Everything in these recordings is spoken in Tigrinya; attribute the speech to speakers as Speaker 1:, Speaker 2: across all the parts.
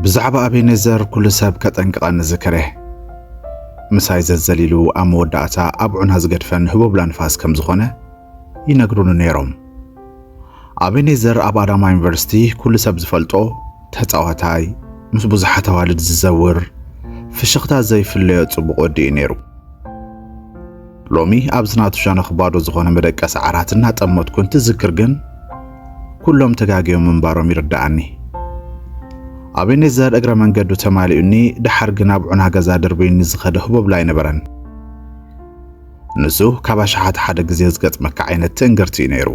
Speaker 1: ብዛዕባ ኣቤኔዘር ኩሉ ሰብ ከጠንቅቐኒ ዝክረ ምሳይ ዘዘሊሉ ኣብ መወዳእታ ኣብ ዑና ዝገድፈን ህቦብላ ንፋስ ከም ዝኾነ ይነግሩኒ ነይሮም። ኣቤኔዘር ኣብ ኣዳማ ዩኒቨርሲቲ ኩሉ ሰብ ዝፈልጦ ተጻዋታይ፣ ምስ ብዙሓት ኣዋልድ ዝዘውር፣ ፍሽኽታ ዘይፍለዮ ጽቡቕ ወዲ እዩ ነይሩ። ሎሚ ኣብዚ ናቱ ሸነኽ ባዶ ዝኾነ መደቀሲ ዓራት እናጠመትኩ እንትዝክር ግን ኩሎም ተጋግዮም ምንባሮም ይርድኣኒ። ኣቤኔዘር እግረ መንገዱ ተማሊኡኒ፣ ደሓር ግን ኣብ ዑና ገዛ ደርብዩኒ ዝኸደ ህቦብላ ኣይነበረን። ንሱ ካብ ኣሽሓት ሓደ ግዜ ዝገጥመካ ዓይነት ትእንግርቲ እዩ ነይሩ።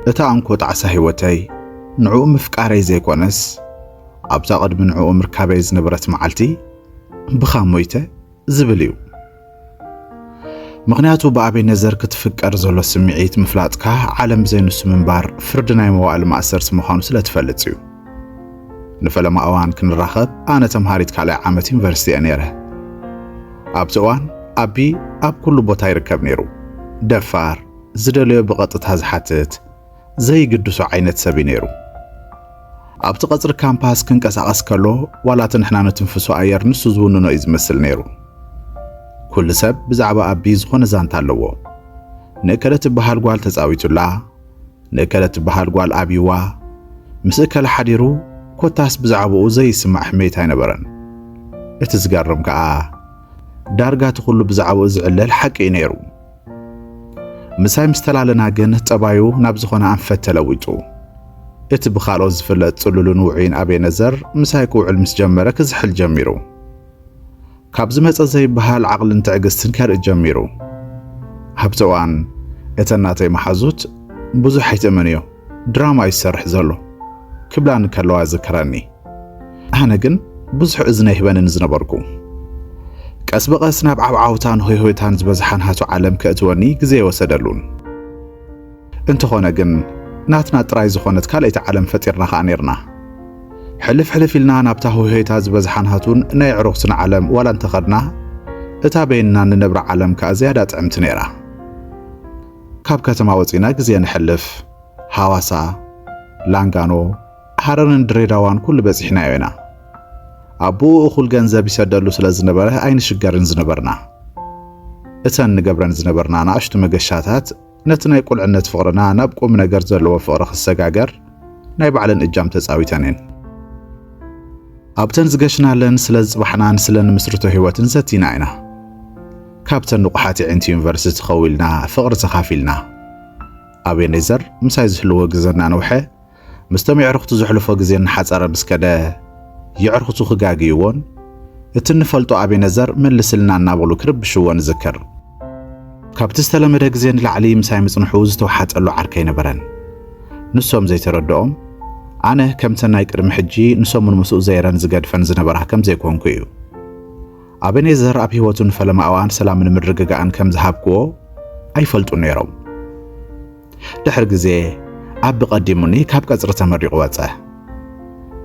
Speaker 1: እታ እንኮ ጣዕሳ ህይወተይ ንዕኡ ምፍቃረይ ዘይኮነስ ኣብዛ ቅድሚ ንዕኡ ምርካበይ ዝነበረት መዓልቲ ብኻ ሞይተ ዝብል እዩ። ምኽንያቱ ብኣቤነዘር ክትፍቀር ዘሎ ስምዒት ምፍላጥካ ዓለም ብዘይንሱ ምንባር ፍርዲ ናይ መዋእል ማእሰርቲ ምዃኑ ስለ ትፈልጥ እዩ። ንፈለማ እዋን ክንራኸብ ኣነ ተምሃሪት ካልኣይ ዓመት ዩኒቨርሲቲ እየ ነይረ። ኣብቲ እዋን ኣቢ ኣብ ኩሉ ቦታ ይርከብ ነይሩ። ደፋር፣ ዝደለዮ ብቐጥታ ዝሓትት፣ ዘይግድሶ ዓይነት ሰብ እዩ ነይሩ። ኣብቲ ቀጽሪ ካምፓስ ክንቀሳቐስ ከሎ ዋላ እቲ ንሕና ንትንፍሶ ኣየር ንሱ ዝውንኖ እዩ ዝመስል ነይሩ። ኩሉ ሰብ ብዛዕባ ኣቢ ዝኾነ ዛንታ ኣለዎ። ንእከለ ትበሃል ጓል ተጻዊቱላ፣ ንእከለ እትበሃል ጓል ኣብዩዋ ምስ እከለ ሓዲሩ ኮታስ ብዛዕባኡ ዘይስማዕ ሕሜት ኣይነበረን። እቲ ዝገርም ከኣ ዳርጋ እቲ ኩሉ ብዛዕባኡ ዝዕለል ሓቂ እዩ ነይሩ። ምሳይ ምስ ተላለና ግን ጠባዩ ናብ ዝኾነ ኣንፈት ተለዊጡ። እቲ ብኻልኦት ዝፍለጥ ጽሉልን ውዑይን ኣቤነዘር ምሳይ ክውዕል ምስ ጀመረ ክዝሕል ጀሚሩ። ካብ ዝመጸ ዘይብሃል ዓቕልን ትዕግስትን ከርኢ ጀሚሩ። ኣብቲ እዋን እተን ናተይ መሓዙት ብዙሕ ኣይትእመንዮ፣ ድራማ እዩ ዝሰርሕ ዘሎ ክብላኒ ከለዋ እዝክረኒ። ኣነ ግን ብዙሕ እዝኒ ኣይህበንን ዝነበርኩ። ቀስ ብቐስ ናብ ዓብዓውታን ሆይሆይታን ዝበዝሓ ናቱ ዓለም ከእትወኒ ግዜይ ወሰደሉን። እንተኾነ ግን ናትና ጥራይ ዝኾነት ካልኣይቲ ዓለም ፈጢርና ከኣ ኔርና። ሕልፍ ሕልፍ ኢልና ናብታ ህውሄታ ዝበዝሓን ሃቱን ናይ ኣዕሩኽትና ዓለም ዋላ እንተኸድና፣ እታ በይንና እንነብራ ዓለም ከኣ ዝያዳ ጥዕምቲ ኔራ። ካብ ከተማ ወጺእና ግዜ ነሕልፍ ሃዋሳ፣ ላንጋኖ፣ ሃረርን ድሬዳዋን ኩሉ በጺሕናዮ ኢና። ኣቡኡ እኹል ገንዘብ ይሰደሉ ስለ ዝነበረ ኣይንሽገርን ዝነበርና። እተን ንገብረን ዝነበርና ናእሽቱ መገሻታት ነቲ ናይ ቁልዕነት ፍቕርና ናብ ቁም ነገር ዘለዎ ፍቕሪ ክሰጋገር ናይ ባዕለን እጃም ተጻዊተን እየን። ኣብተን ዝገሽናለን ስለ ዝጽባሕናን ስለ ንምስርቶ ህይወትን ዘቲና ኢና። ካብተን ንቑሓት የዒንቲ ዩኒቨርሲቲ ከዊልና ፍቕሪ ተኻፊልና። ኣቤኔዘር ምሳይ ዝህልዎ ግዘ እናነውሐ ምስቶም የዕርኹቱ ዘሕልፎ ግዜ እናሓጸረ ምስ ከደ፣ የዕርኹቱ ክጋግይዎን እቲ እንፈልጦ ኣቤነዘር መልስልና እናበሉ ክርብሽዎ ንዝክር። ካብቲ ዝተለመደ ግዜ ንላዕሊ ምሳይ ምጽንሑ ዝተውሓጠሉ ዓርከይ ኣይነበረን። ንሶም ዘይተረድኦም፣ ኣነ ከምተን ናይ ቅድሚ ሕጂ ንሰሙን ምስኡ ዘይረን ዝገድፈን ዝነበራ ከም ዘይኮንኩ እዩ። ኣቤኔዘር ኣብ ህይወቱ ንፈለማ እዋን ሰላምን ምርግጋእን ከም ዝሃብክዎ ኣይፈልጡን ነይሮም። ድሕሪ ግዜ ኣቢ ቀዲሙኒ ካብ ቀጽሪ ተመሪቑ ወጸ።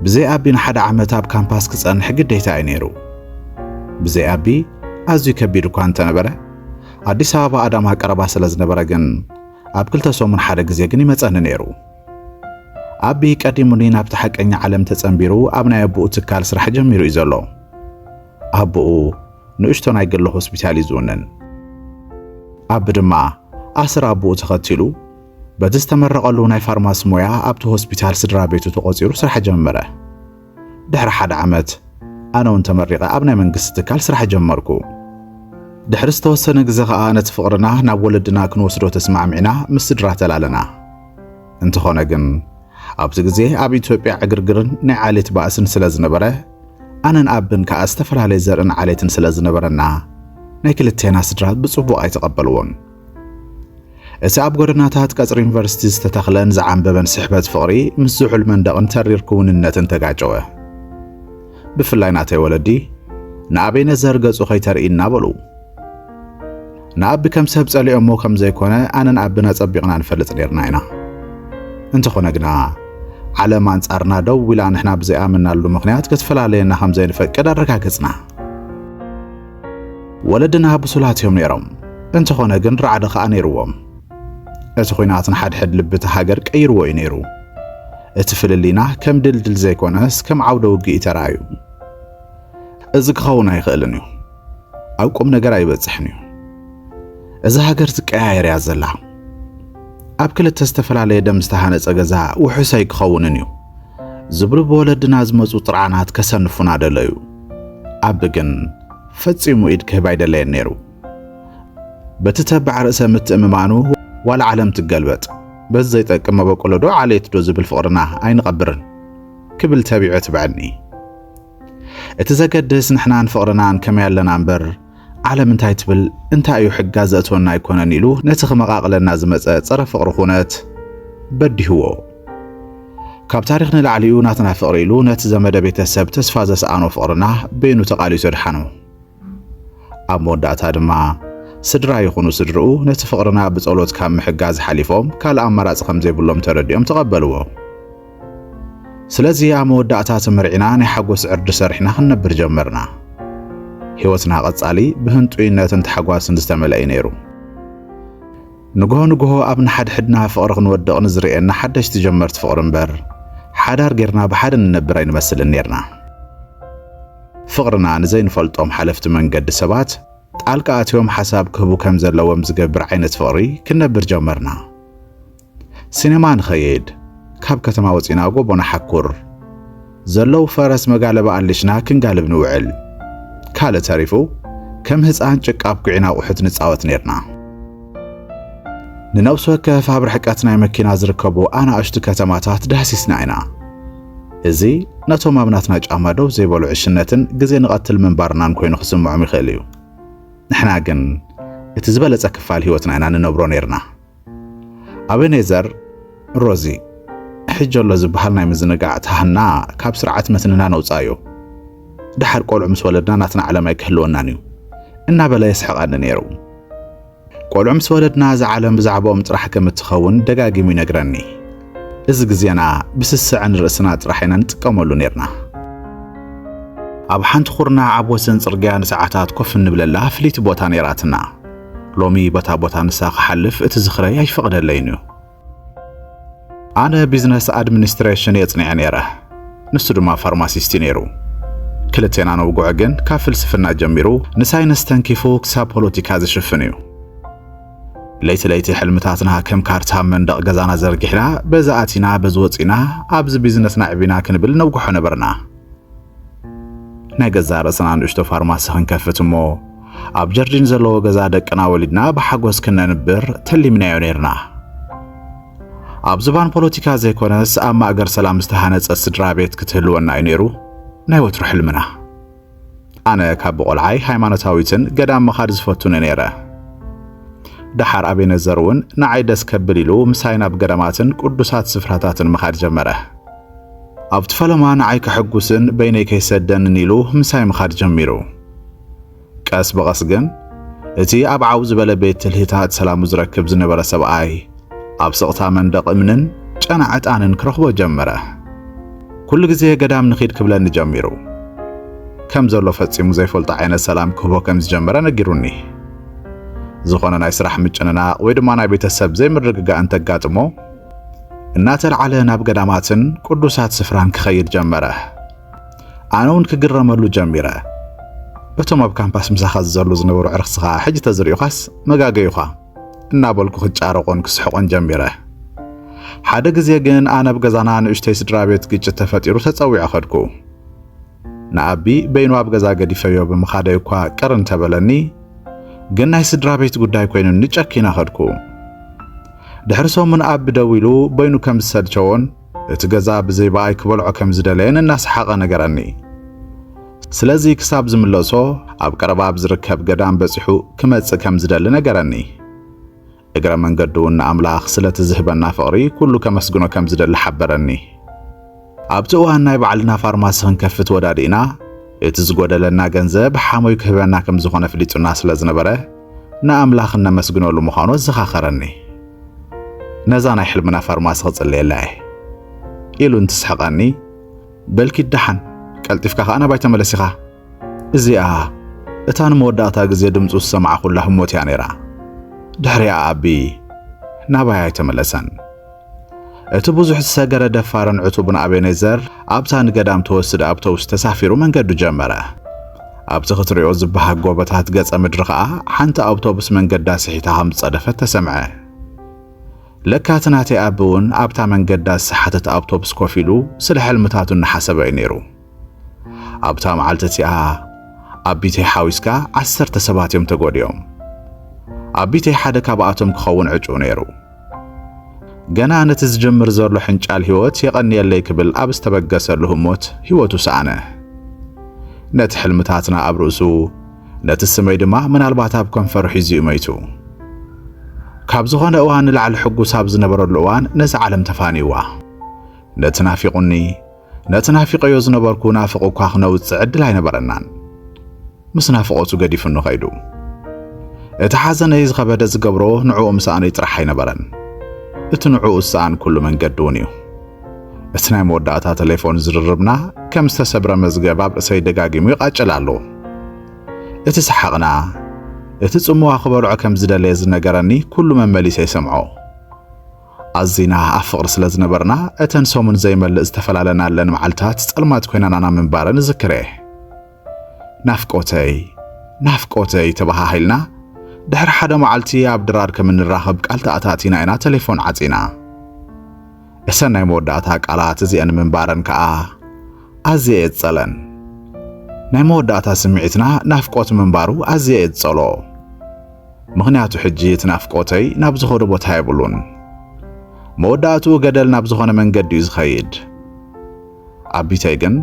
Speaker 1: ብዘይ ኣቢ ንሓደ ዓመት ኣብ ካምፓስ ክጸንሕ ግዴታ'ዩ ነይሩ። ብዘይ ኣቢ ኣዝዩ ከቢድ እኳ እንተነበረ፣ ኣዲስ ኣበባ ኣዳማ ቀረባ ስለ ዝነበረ ግን ኣብ ክልተ ሰሙን ሓደ ግዜ ግን ይመጸኒ ነይሩ። ኣቢ ቀዲሙኒ ናብቲ ሓቀኛ ዓለም ተጸንቢሩ ኣብ ናይ ኣቡኡ ትካል ስራሕ ጀሚሩ እዩ ዘሎ። ኣቦኡ ንእሽቶ ናይ ግሊ ሆስፒታል እዩ ዝውንን። ኣቢ ድማ ኣስር ኣቦኡ ተኸቲሉ በቲ ዝተመረቐሉ ናይ ፋርማሲ ሞያ ኣብቲ ሆስፒታል ስድራ ቤቱ ተቖጺሩ ስራሕ ጀመረ። ድሕሪ ሓደ ዓመት ኣነ እውን ተመሪቐ ኣብ ናይ መንግስቲ ትካል ስራሕ ጀመርኩ። ድሕሪ ዝተወሰነ ግዜ ኸኣ ነቲ ፍቕርና ናብ ወለድና ክንወስዶ ተስማዕሚዕና ምስ ስድራ ተላለና። እንተኾነ ግን ኣብዚ ግዜ ኣብ ኢትዮጵያ ዕግርግርን ናይ ዓሌት ባእስን ስለ ዝነበረ ኣነን ኣብን ከኣ ዝተፈላለየ ዘርእን ዓሌትን ስለ ዝነበረና ናይ ክልቴና ስድራ ብጽቡቕ ኣይተቐበልዎን። እቲ ኣብ ጎደናታት ቀጽሪ ዩኒቨርሲቲ ዝተተኽለን ዝዓምበበን ስሕበት ፍቕሪ ምስ ዝሑል መንደቕን ተሪር ክውንነትን ተጋጨወ። ብፍላይ ናተይ ወለዲ ንኣቤነዘር ገጹ ከይተርእይና በሉ። ንኣቢ ከም ሰብ ጸሊኦሞ ከም ዘይኮነ ኣነን ኣቢን ኣጸቢቕና ንፈልጥ ኔርና ኢና። እንተኾነ ግና ዓለም ኣንጻርና ደው ኢላ ንሕና ብዘይኣመናሉ ምኽንያት ክትፈላለየና ከም ዘይንፈቅድ ኣረጋገጽና። ወለድና ብሱላት እዮም ነይሮም፣ እንተኾነ ግን ራዕዲ ኸኣ ነይርዎም። እቲ ኹናት ንሓድሕድ ልቢ እታ ሃገር ቀይርዎ እዩ ነይሩ። እቲ ፍልልይና ከም ድልድል ዘይኮነስ ከም ዓውደ ውግእ እዩ ተራእዩ። እዚ ክኸውን ኣይኽእልን እዩ። ኣብ ቁም ነገር ኣይበጽሕን እዩ። እዛ ሃገር ትቀያየር እያ ዘላ። ኣብ ክልተ ዝተፈላለየ ደም ዝተሃነጸ ገዛ ውሑስ ኣይክኸውንን እዩ ዝብሉ ብወለድና ዝመጹ ጥርዓናት ከሰንፉና ደለዩ። ኣብ ግን ፈጺሙ ኢድ ክህብ ኣይደለየን ነይሩ። በቲ ተባዕ ርእሰ ምትእምማኑ ዋላ ዓለም ትገልበጥ በዚ ዘይጠቅም መበቆሎ ዶ ዓሌት ዶ ዝብል ፍቕርና ኣይንቐብርን ክብል ተቢዑ ትብዐኒ። እቲ ዘገድስ ንሕናን ፍቕርናን ከመይ ኣለና እምበር ዓለም እንታይ ትብል እንታይ እዩ ሕጋ ዘእትወና ኣይኮነን ኢሉ ነቲ ክመቓቕለና ዝመጸ ጸረ ፍቕሪ ኩነት በዲህዎ። ካብ ታሪኽ ንላዕሊኡ ናትና ፍቕሪ ኢሉ ነቲ ዘመደ ቤተሰብ ተስፋ ዘስኣኖ ፍቕርና በይኑ ተቓሊሱ ኣድሓኖ። ኣብ መወዳእታ ድማ ስድራ ይኹኑ ስድርኡ ነቲ ፍቕርና ብጸሎት ካብ ምሕጋዝ ሓሊፎም ካልእ ኣማራጺ ከም ዘይብሎም ተረዲኦም ተቐበልዎ። ስለዚ ኣብ መወዳእታ ተመርዒና ናይ ሓጎስ ዕርዲ ሰሪሕና ክንነብር ጀመርና። ህይወትና ቀጻሊ ብህንጡይነትን ታሕጓስን ዝተመልአ እዩ ነይሩ። ንግሆ ንግሆ ኣብ ንሓድሕድና ፍቕሪ ክንወድቕ ንዝርእየና ሓደሽቲ ጀመርቲ ፍቕሪ እምበር ሓዳር ጌርና ብሓደ ንነብር ኣይንመስልን ኔርና። ፍቕርና ንዘይንፈልጦም ሓለፍቲ መንገዲ ሰባት ጣልቃ ኣትዮም ሓሳብ ክህቡ ከም ዘለዎም ዝገብር ዓይነት ፍቕሪ ክንነብር ጀመርና። ሲነማ ንኸይድ ካብ ከተማ ወጺና ጎቦ ንሓኩር ዘለው ፈረስ መጋለቢ ኣሊሽና ክንጋልብ ንውዕል ካልእ ተሪፉ ከም ህጻን ጭቃ ኣብኲዕና ኣቑሑት ንጻወት ኔርና ንነብሲ ወከፍ ኣብ ርሕቀት ናይ መኪና ዝርከቡ ኣናእሽቱ ከተማታት ዳህሲስና ኢና እዚ ነቶም ኣብ ናትና ጫማ ደው ዘይበሉ ዕሽነትን ግዜ ንቐትል ምንባርናን ኮይኑ ክስምዖም ይኽእል እዩ። ንሕና ግን እቲ ዝበለጸ ክፋል ህይወትና ኢና ንነብሮ ነርና። ኣበኔዘር ሮዚ ሕጂ ኣሎ ዝበሃል ናይ ምዝንጋዕ ተሃና ካብ ስርዓት መትንና ነውጻእዮ ደሓር ቆልዑ ምስ ወለድና ናትና ዓለም ኣይክህልወናን እዩ እናበለ የስሕቐኒ ነይሩ። ቆልዑ ምስ ወለድና እዛ ዓለም ብዛዕባኦም ጥራሕ ከም እትኸውን ደጋጊሙ ይነግረኒ። እዚ ግዜና ብስስዐ ንርእስና ጥራሕ ኢና ንጥቀመሉ ኔርና። ኣብ ሓንቲ ኩርናዕ ኣብ ወሰን ጽርግያ ንሰዓታት ኮፍ እንብለላ ፍልይቲ ቦታ ኔራትና። ሎሚ በታ ቦታ ንሳ ክሓልፍ እቲ ዝኽረይ ኣይፈቕደለይን እዩ። ኣነ ቢዝነስ ኣድሚኒስትሬሽን እየ ጽኒዐ ኔረ፣ ንሱ ድማ ፋርማሲስት እዩ ኔሩ። ክልቴና ነውግዖ ግን ካብ ፍልስፍና ጀሚሩ ንሳይንስ ተንኪፉ ክሳብ ፖለቲካ ዝሽፍን እዩ። ለይቲ ለይቲ ሕልምታትና ከም ካርታ መንደቕ ገዛና ዘርጊሕና በዚ ኣቲና በዚ ወፂና ኣብዚ ቢዝነስና ዕቢና ክንብል ነውግሖ ነበርና። ናይ ገዛ ርእስና ንእሽቶ ፋርማሲ ክንከፍት እሞ ኣብ ጀርዲን ዘለዎ ገዛ ደቅና ወሊድና ብሓጎስ ክነንብር ተሊምናዮ ነርና። ኣብ ዝባን ፖለቲካ ዘይኮነስ ኣብ ማእገር ሰላም ዝተሃነጸ ስድራ ቤት ክትህልወና እዩ ነይሩ ናይ ወትሩ ሕልምና። ኣነ ካብ ብቆልዓይ ሃይማኖታዊትን ገዳም ምኻድ ዝፈቱን ነይረ። ደሓር ኣቤነዘር እውን ንዓይ ደስ ከብል ኢሉ ምሳይ ናብ ገዳማትን ቅዱሳት ስፍራታትን ምኻድ ጀመረ። ኣብቲ ፈለማ ንዓይ ከሐጉስን በይነይ ከይሰደንን ኢሉ ምሳይ ምኻድ ጀሚሩ። ቀስ ብቐስ ግን እቲ ኣብ ዓው ዝበለ ቤት ትልሂታት ሰላሙ ዝረክብ ዝነበረ ሰብኣይ ኣብ ስቕታ መንደቕ እምንን ጨና ዕጣንን ክረኽቦ ጀመረ። ኩሉ ግዜ ገዳም ንኺድ ክብለኒ ጀሚሩ። ከም ዘሎ ፈጺሙ ዘይፈልጦ ዓይነት ሰላም ክህቦ ከም ዝጀመረ ነጊሩኒ። ዝኾነ ናይ ስራሕ ምጭንናቕ ወይ ድማ ናይ ቤተሰብ ዘይምርግጋእ እንተጋጥሞ እናተልዓለ ናብ ገዳማትን ቅዱሳት ስፍራን ክኸይድ ጀመረ። ኣነ እውን ክግረመሉ ጀሚረ። እቶም ኣብ ካምፓስ ምሳኻ ዝዘሉ ዝነበሩ ዕርኽስኻ ሕጂ ተዝርእዩኻስ መጋገዩኻ እናበልኩ ክጫረቆን ክስሕቆን ጀሚረ። ሓደ ግዜ ግን ኣነ ኣብ ገዛና ንእሽተይ ስድራ ቤት ግጭት ተፈጢሩ ተጸዊዐ ከድኩ። ንኣቢ በይኑ ኣብ ገዛ ገዲፈዮ ብምኻደይ እኳ ቅር እንተበለኒ ግን ናይ ስድራ ቤት ጉዳይ ኮይኑኒ ጨኪና ከድኩ። ድሕሪ ሰሙን ኣቢ ደዊሉ በይኑ ከም ዝሰልቸዎን እቲ ገዛ ብዘይ በኣይ ክበልዖ ከም ዝደለየን እናሰሓቐ ነገረኒ። ስለዚ ክሳብ ዝምለሶ ኣብ ቀረባ ኣብ ዝርከብ ገዳም በጺሑ ክመጽእ ከም ዝደሊ ነገረኒ። እግረ መንገዱ'ውን ንኣምላኽ ስለቲ ዝህበና ፍቕሪ ኩሉ ከመስግኖ ከም ዝደሊ ሓበረኒ። ኣብቲ እዋን ናይ ባዕልና ፋርማሲ ክንከፍት ወዳዲእና፣ እቲ ዝጎደለና ገንዘብ ሓሞይ ክህበና ከም ዝኾነ ኣፍሊጡና ስለ ዝነበረ ንኣምላኽ እነመስግነሉ ምዃኑ ኣዘኻኸረኒ። ነዛ ናይ ሕልምና ፋርማሲ ክጽልየላ እየ ኢሉ እንትስሕቐኒ፣ በልኪ ደሓን ቀልጢፍካ ከኣ ናባይ ተመለስ ኢኻ። እዚኣ እታ ንመወዳእታ ግዜ ድምጹ ዝሰማዕኩላ ህሞት እያ ነይራ። ድሕሪኣ ኣቢ ናባይ ኣይተመለሰን። እቲ ብዙሕ ዝሰገረ ደፋርን ዕቱብን ኣቤኔዘር ኣብታ ንገዳም ተወስድ ኣብተውስ ተሳፊሩ መንገዱ ጀመረ። ኣብቲ ክትሪኦ ዝበሃግ ጎቦታት ገጸ ምድሪ ከኣ ሓንቲ ኣውቶቡስ መንገዳ ስሒታ ከም ዝጸደፈት ተሰምዐ። ለካ እቲ ናተይ ኣቢ እውን ኣብታ መንገዳ ዝሰሓተት ኣብቶብስ ኮፍ ኢሉ ስለ ሕልምታቱ እናሓሰበ እዩ ነይሩ። ኣብታ መዓልቲ እቲኣ ኣቢተይ ሓዊስካ ዓሰርተ ሰባት እዮም ተጎዲኦም። ኣቢተይ ሓደ ካብኣቶም ክኸውን ዕጩ ነይሩ። ገና ነቲ ዝጀምር ዘሎ ሕንጫል ህይወት የቐንየለይ ክብል ኣብ ዝተበገሰሉ ህሞት ህይወቱ ሰኣነ። ነቲ ሕልምታትና ኣብ ርእሱ ነቲ ስመይ ድማ ምናልባት ኣብ ከንፈሩ ሒዙ እዩ መይቱ። ካብ ዝኾነ እዋን ንላዕሊ ሕጉስ ኣብ ዝነበረሉ እዋን ነዚ ዓለም ተፋንይዋ። ነቲ ናፊቑኒ ነቲ ናፊቐዮ ዝነበርኩ ናፍቑ እኳ ክነውጽእ ዕድል ኣይነበረናን። ምስ ናፍቖቱ ገዲፉኒ ከይዱ። እቲ ሓዘነይ ዝኸበደ ዝገብሮ ንዕኡ ምስኣነይ ጥራሕ ኣይነበረን፣ እቲ ንዕኡ ዝሰኣንኩሉ መንገዲ እውን እዩ። እቲ ናይ መወዳእታ ተሌፎን ዝርርብና ከም ዝተሰብረ መዝገብ ኣብ ርእሰይ ደጋጊሙ ይቓጭል ኣሎ። እቲ ሰሓቕና፣ እቲ ጽምዋ ክበልዖ ከም ዝደለየ ዝነገረኒ ኩሉ መመሊሰ ይሰምዖ። ኣዚና ኣብ ፍቕሪ ስለ ዝነበርና እተን ሰሙን ዘይመልእ ዝተፈላለናለን መዓልታት ጸልማት ኮይናናና ምንባረን እዝክር እየ። ናፍቆተይ ናፍቆተይ ተበሃሂልና ድሕሪ ሓደ መዓልቲ ኣብ ድራር ከም እንራኸብ ቃል ተኣታቲና ኢና ተሌፎን ዓጺና። እሰን ናይ መወዳእታ ቃላት እዚኤን ምንባረን ከኣ ኣዝየ እየ ዝጸለን። ናይ መወዳእታ ስምዒትና ናፍቆት ምንባሩ ኣዝየ እየ ዝጸልኦ። ምኽንያቱ ሕጂ እቲ ናፍቆተይ ናብ ዝኸዶ ቦታ የብሉን። መወዳእትኡ ገደል ናብ ዝኾነ መንገዲ እዩ ዝኸይድ። ኣቢተይ ግን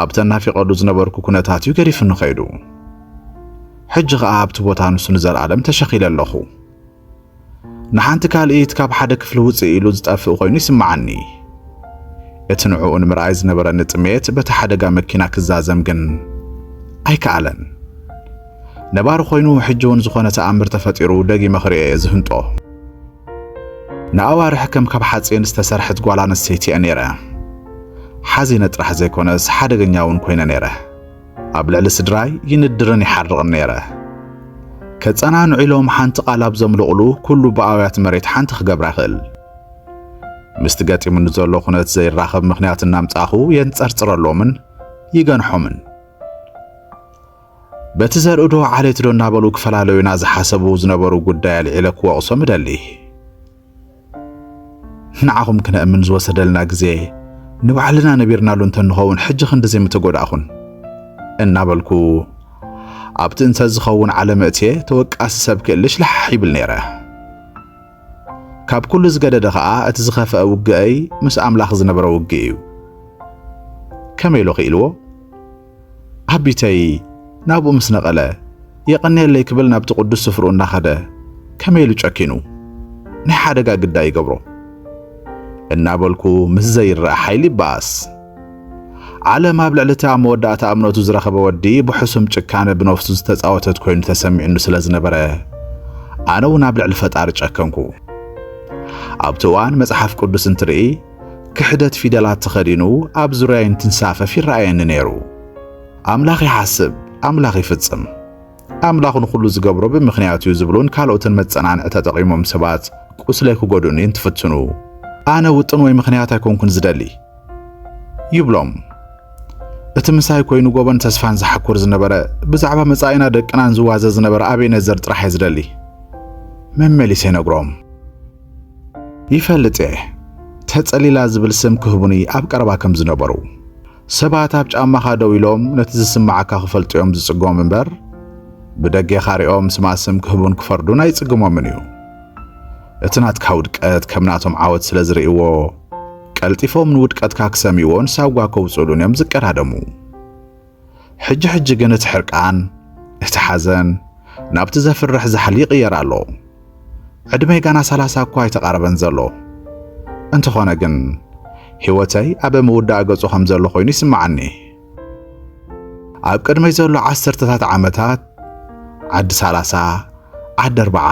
Speaker 1: ኣብ ተናፊቐሉ ዝነበርኩ ኩነታት እዩ ገዲፉኒ ከይዱ። ሕጂ ኸኣ ኣብቲ ቦታ ንሱ ንዘለኣለም ተሸኺለ ኣለኹ። ንሓንቲ ካልኢት ካብ ሓደ ክፍሊ ውፅእ ኢሉ ዝጠፍእ ኮይኑ ይስምዓኒ። እቲ ንዕኡ ንምርኣይ ዝነበረኒ ጥሜት በቲ ሓደጋ መኪና ክዛዘም ግን ኣይከኣለን። ነባሪ ኮይኑ ሕጂ እውን ዝኾነ ተኣምር ተፈጢሩ ደጊመ ክርኤ እየ ዝህንጦ። ንኣዋርሕ ከም ካብ ሓጺን ዝተሰርሐት ጓል ኣንስተይቲ እየ ነይረ። ሓዚነ ጥራሕ ዘይኮነስ ሓደገኛ እውን ኮይነ ነይረ። ኣብ ልዕሊ ስድራይ ይንድርን ይሓርቕን ነይረ። ከጸናንዑ ኢሎም ሓንቲ ቃል ኣብ ዘምልቑሉ ኩሉ ብኣውያት መሬት ሓንቲ ክገብራ ይኽእል። ምስቲ ገጢሙኒ ዘሎ ኩነት ዘይራኸብ ምኽንያት እናምጻኹ የንጸርጽረሎምን ይገንሖምን። በቲ ዘርእዶ ዓሌትዶ እናበሉ ክፈላለዩና ዝሓሰቡ ዝነበሩ ጉዳይ ኣልዒለ ክወቕሶም እደሊ። ንዓኹም ክነእምን ዝወሰደልና ግዜ ንባዕልና ነቢርናሉ እንተንኸውን ሕጂ ክንድዚ ምተጎዳእኹን እናበልኩ ኣብቲ እንተዝኸውን ዓለም እትየ ተወቃሲ ሰብ ክእልሽ ልሓሕ ይብል ነይረ። ካብ ኩሉ ዝገደደ ኸኣ እቲ ዝኸፈአ ውግአይ ምስ ኣምላኽ ዝነበረ ውግእ እዩ። ከመይ ኢሉ ክኢልዎ? ኣቢተይ ናብኡ ምስ ነቐለ የቐንየለይ ክብል ናብቲ ቅዱስ ስፍርኡ እናኸደ ከመይ ኢሉ ጨኪኑ ናይ ሓደጋ ግዳይ ይገብሮ እናበልኩ ምስ ዘይረኣ ሓይሊ ይበኣስ። ዓለም ኣብ ልዕሊ እቲ ኣብ መወዳእታ እምነቱ ዝረኸበ ወዲ ብሕሱም ጭካነ ብነፍሱ ዝተጻወተት ኮይኑ ተሰሚዑኒ ስለ ዝነበረ ኣነ እውን ኣብ ልዕሊ ፈጣሪ ጨከንኩ። ኣብቲ እዋን መጽሓፍ ቅዱስ እንትርኢ ክሕደት ፊደላት ተኸዲኑ ኣብ ዙርያይ እንትንሳፈፍ ይረኣየኒ ነይሩ። ኣምላኽ ይሓስብ፣ ኣምላኽ ይፍጽም፣ ኣምላኽ ንኹሉ ዝገብሮ ብምኽንያት እዩ ዝብሉን ካልኦትን መጸናንዒ ተጠቒሞም ሰባት ቁስለይ ክጎድኡኒ እንትፍትኑ ኣነ ውጥን ወይ ምኽንያት ኣይኮንኩን ዝደሊ ይብሎም። እቲ ምሳይ ኮይኑ ጎበን ተስፋን ዝሓኩር ዝነበረ ብዛዕባ መጻኢና ደቅናን ዝዋዘ ዝነበረ ኣቤነዘር ጥራሕ እየ ዝደሊ መመሊሰ ይነግሮም። ይፈልጥ እየ ተጸሊላ ዝብል ስም ክህቡኒ ኣብ ቀረባ ከም ዝነበሩ። ሰባት ኣብ ጫማኻ ደው ኢሎም ነቲ ዝስምዓካ ክፈልጡ እዮም ዝጽገሙ እምበር ብደጌኻ ሪኦም ስማ ስም ክህቡን ክፈርዱን ኣይጽግሞምን እዩ። እቲ ናትካ ውድቀት ከም ናቶም ዓወት ስለ ዝርእይዎ ቀልጢፎም ንውድቀትካ ክሰምይዎን ሳጓ ከውጽኡሉን እዮም ዝቀዳደሙ። ሕጂ ሕጂ ግን እቲ ሕርቃን፣ እቲ ሓዘን ናብቲ ዘፍርሕ ዛሕሊ ይቕየር ኣሎ። ዕድመይ ጋና ሰላሳ እኳ ኣይተቓረበን ዘሎ። እንተኾነ ግን ህይወተይ ኣብ ምውዳእ ገጹ ከም ዘሎ ኮይኑ ይስምዓኒ። ኣብ ቅድመይ ዘሎ ዓሰርተታት ዓመታት ዓዲ ሰላሳ፣ ዓዲ ኣርብዓ፣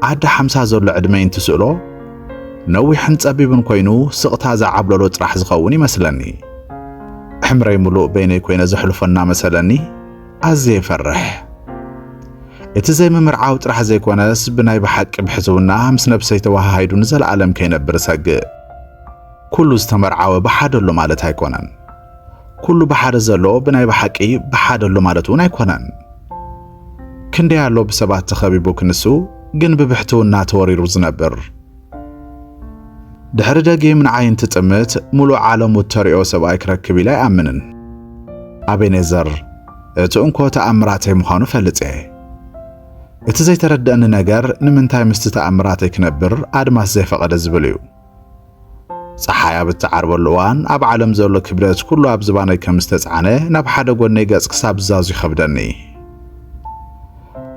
Speaker 1: ዓዲ ሓምሳ ዘሎ ዕድመይ እንትስእሎ ነዊሕን ጸቢብን ኮይኑ ስቕታ ዝዓብለሎ ጥራሕ ዝኸውን ይመስለኒ። ዕምረይ ምሉእ በይነይ ኮይነ ዘሕልፎ እናመሰለኒ ኣዝየ ይፈርሕ። እቲ ዘይምምርዓው ጥራሕ ዘይኮነስ ብናይ ብሓቂ ብሕስውና ምስ ነብሰይ ተወሃሂዱ ንዘለኣለም ከይነብር እሰግእ። ኩሉ ዝተመርዓወ ብሓደሎ ማለት ኣይኮነን። ኩሉ ብሓደ ዘሎ ብናይ ብሓቂ ብሓደ ኣሎ ማለት እውን ኣይኮነን። ክንደይ ኣሎ ብሰባት ተኸቢቡ ክንሱ ግን ብብሕትውና ተወሪሩ ዝነብር። ድሕሪ ደጊም ንዓይ እንትጥምት ሙሉእ ዓለሙ እተሪኦ ሰብኣይ ክረክብ ኢለ ኣይኣምንን። ኣቤኔዘር እቲ እንኮ ተኣምራተይ ምዃኑ ፈልጥ እየ። እቲ ዘይተረድአኒ ነገር ንምንታይ ምስቲ ተኣምራተይ ክነብር ኣድማስ ዘይፈቐደ ዝብል እዩ። ጸሓይ ኣብ እትዓርበሉ እዋን ኣብ ዓለም ዘሎ ክብደት ኩሉ ኣብ ዝባነይ ከም ዝተጻዕነ ናብ ሓደ ጎነይ ገጽ ክሳብ ዝዛዙ ይኸብደኒ።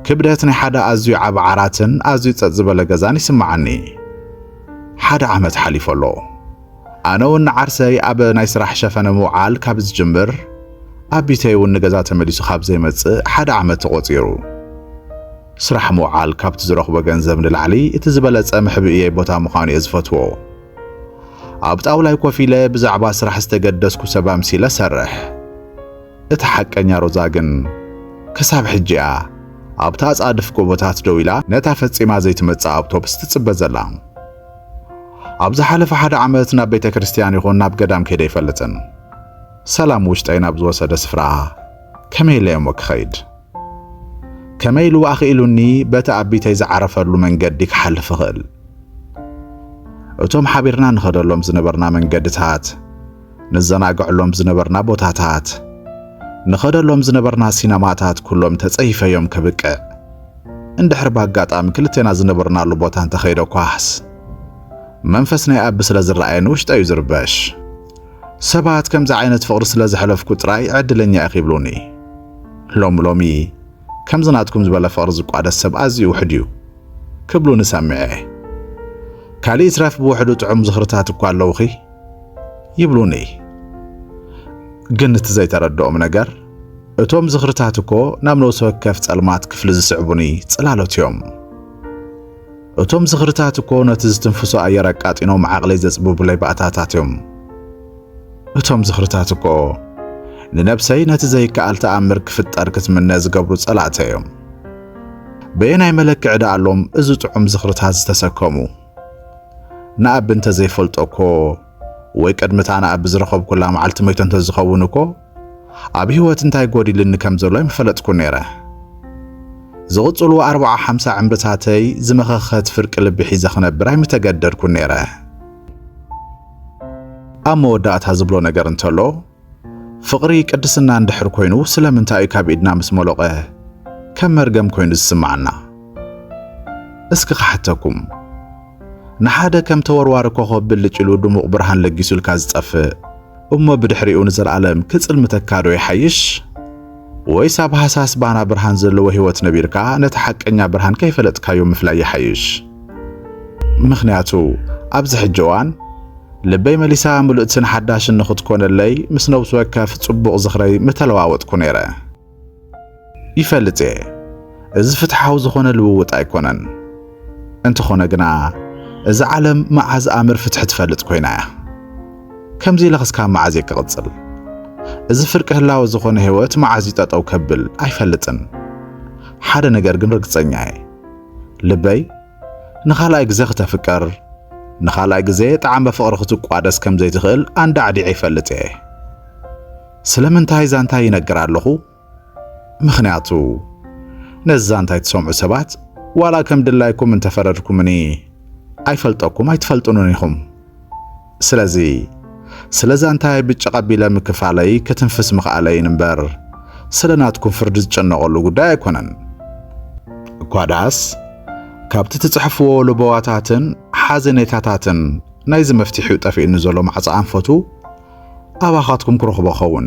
Speaker 1: ክብደት ናይ ሓደ ኣዝዩ ዓቢ ዓራትን ኣዝዩ ጸጥ ዝበለ ገዛን ይስምዓኒ። ሓደ ዓመት ሓሊፉ ኣሎ። ኣነ እውን ንዓርሰይ ኣብ ናይ ስራሕ ሸፈነ ምውዓል ካብ ዝጅምር ኣቢተይ እውን ንገዛ ተመሊሱ ካብ ዘይመጽእ ሓደ ዓመት ተቖጺሩ። ስራሕ ምውዓል ካብቲ ዝረኽቦ ገንዘብ ንላዕሊ እቲ ዝበለጸ መሕብእየይ ቦታ ምዃኑ'የ ዝፈትዎ። ኣብ ጣውላይ ኮፍ ኢለ ብዛዕባ ስራሕ ዝተገደስኩ ሰብ ኣምሲለ እሰርሕ። እታ ሓቀኛ ሮዛ ግን ክሳብ ሕጂ'ያ ኣብቲ ኣጻድፍ ጎቦታት ደው ኢላ ነታ ፈጺማ ዘይትመጽእ ኣብቶብስ ትጽበ ዘላ። ኣብ ዝሓለፈ ሓደ ዓመት ናብ ቤተ ክርስትያን ይኹን ናብ ገዳም ከይደ ኣይፈልጥን። ሰላም ውሽጠይ ናብ ዝወሰደ ስፍራ ከመይ ኢለ'የ እሞ ክኸይድ? ከመይ ኢሉ ኣኽኢሉኒ በቲ ኣቢተይ ዝዓረፈሉ መንገዲ ክሓልፍ እኽእል? እቶም ሓቢርና ንኸደሎም ዝነበርና መንገድታት፣ ንዘናግዐሎም ዝነበርና ቦታታት፣ ንኸደሎም ዝነበርና ሲነማታት ኩሎም ተጸይፈዮም ከብቅዕ፣ እንድሕር ብኣጋጣሚ ክልቴና ዝነበርናሉ ቦታ እንተኸይደ ኳስ፣ መንፈስ ናይ ኣቢ ስለ ዝረኣየኒ ውሽጠይ እዩ ዝርበሽ። ሰባት ከምዚ ዓይነት ፍቕሪ ስለ ዘሕለፍኩ ጥራይ ዕድለኛ ኢኺ ይብሉኒ። ሎሚ ሎሚ ከምዚ ናትኩም ዝበለ ፍቕሪ ዝቋደስ ሰብ ኣዝዩ ውሑድ እዩ ክብሉ ንሰምዕ'የ። ካልእ ይትረፍ ብውሕዱ ጥዑም ዝኽርታት እኳ ኣለውኺ ይብሉኒ። ግን እቲ ዘይተረድኦም ነገር እቶም ዝኽርታት እኮ ናብ ነብሲ ወከፍ ጸልማት ክፍሊ ዝስዕቡኒ ጽላሎት እዮም። እቶም ዝኽርታት እኮ ነቲ ዝትንፍሶ ኣየር ኣቃጢኖም ዓቕለይ ዘጽብቡለይ ባእታታት እዮም። እቶም ዝኽርታት እኮ ንነብሰይ ነቲ ዘይከኣል ተኣምር ክፍጠር ክትምነ ዝገብሩ ጸላእተ እዮም። በየናይ መለክዒ ደኣሎም እዚ ጥዑም ዝኽርታት ዝተሰከሙ? ንኣቢ እንተ ዘይፈልጦ እኮ ወይ ቅድሚታ ንኣቢ ዝረኸብኩላ መዓልቲ መይቶ እንተ ዝኸውን እኮ ኣብ ህይወት እንታይ ጎዲልኒ ከም ዘሎ ኣይምፈለጥኩ ነይረ። ዝቕጽሉ ኣርብዓ ሓምሳ ዕምርታተይ ዝመኸኸት ፍርቂ ልቢ ሒዘ ክነብር ኣይምተገደድኩ ነይረ። ኣብ መወዳእታ ዝብሎ ነገር እንተሎ፣ ፍቕሪ ቅድስና እንድሕር ኮይኑ ስለምንታይ እዩ ካብ ኢድና ምስ ሞሎቐ ከም መርገም ኮይኑ ዝስምዓና? እስኪ ክሓተኩም፣ ንሓደ ከም ተወርዋሪ ኮኾብ ብልጭ ኢሉ ድሙቕ ብርሃን ለጊሱልካ ዝጠፍእ እሞ ብድሕሪኡ ንዘልኣለም ክጽልምተካ ዶ ይሓይሽ? ወይስ ኣብ ሃሳስ ባና ብርሃን ዘለዎ ህይወት ነቢርካ ነቲ ሓቀኛ ብርሃን ከይፈለጥካዮ ምፍላይ ይሓይሽ? ምኽንያቱ ኣብዚ ሕጂ እዋን ልበይ መሊሳ ምልእትን ሓዳሽን ንኽትኮነለይ ምስ ነብሲ ወከፍ ጽቡቕ ዝኽረይ ምተለዋወጥኩ ነይረ። ይፈልጥ እየ እዚ ፍትሓዊ ዝኾነ ልውውጥ ኣይኮነን። እንተኾነ ግና እዛ ዓለም መዓዝ ኣምር ፍትሒ ትፈልጥ ኮይና እያ። ከምዚ ኢለ ክስካብ መዓዝ እየ ክቕጽል? እዚ ፍርቂ ህላወ ዝኾነ ህይወት መዓዝ እዩ ጠጠው ከብል? ኣይፈልጥን። ሓደ ነገር ግን ርግጸኛ እየ። ልበይ ንኻልኣይ ግዜ ክተፍቀር ንኻልኣይ ግዜ ጣዕመ ፍቕሪ ክትቋደስ ከም ዘይትኽእል ኣንዳዕዲዐ ይፈልጥ እየ። ስለምንታይ ዛንታ ይነግር ኣለኹ? ምኽንያቱ ነዚ ዛንታ እትሰምዑ ሰባት ዋላ ከም ድላይኩም እንተፈረድኩምኒ ኣይፈልጠኩም ኣይትፈልጡንን ኢኹም። ስለዚ ስለ ዛንታይ ብጭቕ ኣቢለ ምክፋለይ ክትንፍስ ምኽኣለይን እምበር ስለ ናትኩም ፍርዲ ዝጨነቐሉ ጉዳይ ኣይኮነን። እኳ ደኣስ ካብቲ ትጽሕፍዎ ልበዋታትን ሓዘኔታታትን ናይዚ መፍትሒኡ ጠፊኡኒ ዘሎ ማዕጾ ኣንፈቱ ኣባኻትኩም ክረኽቦ ኸውን።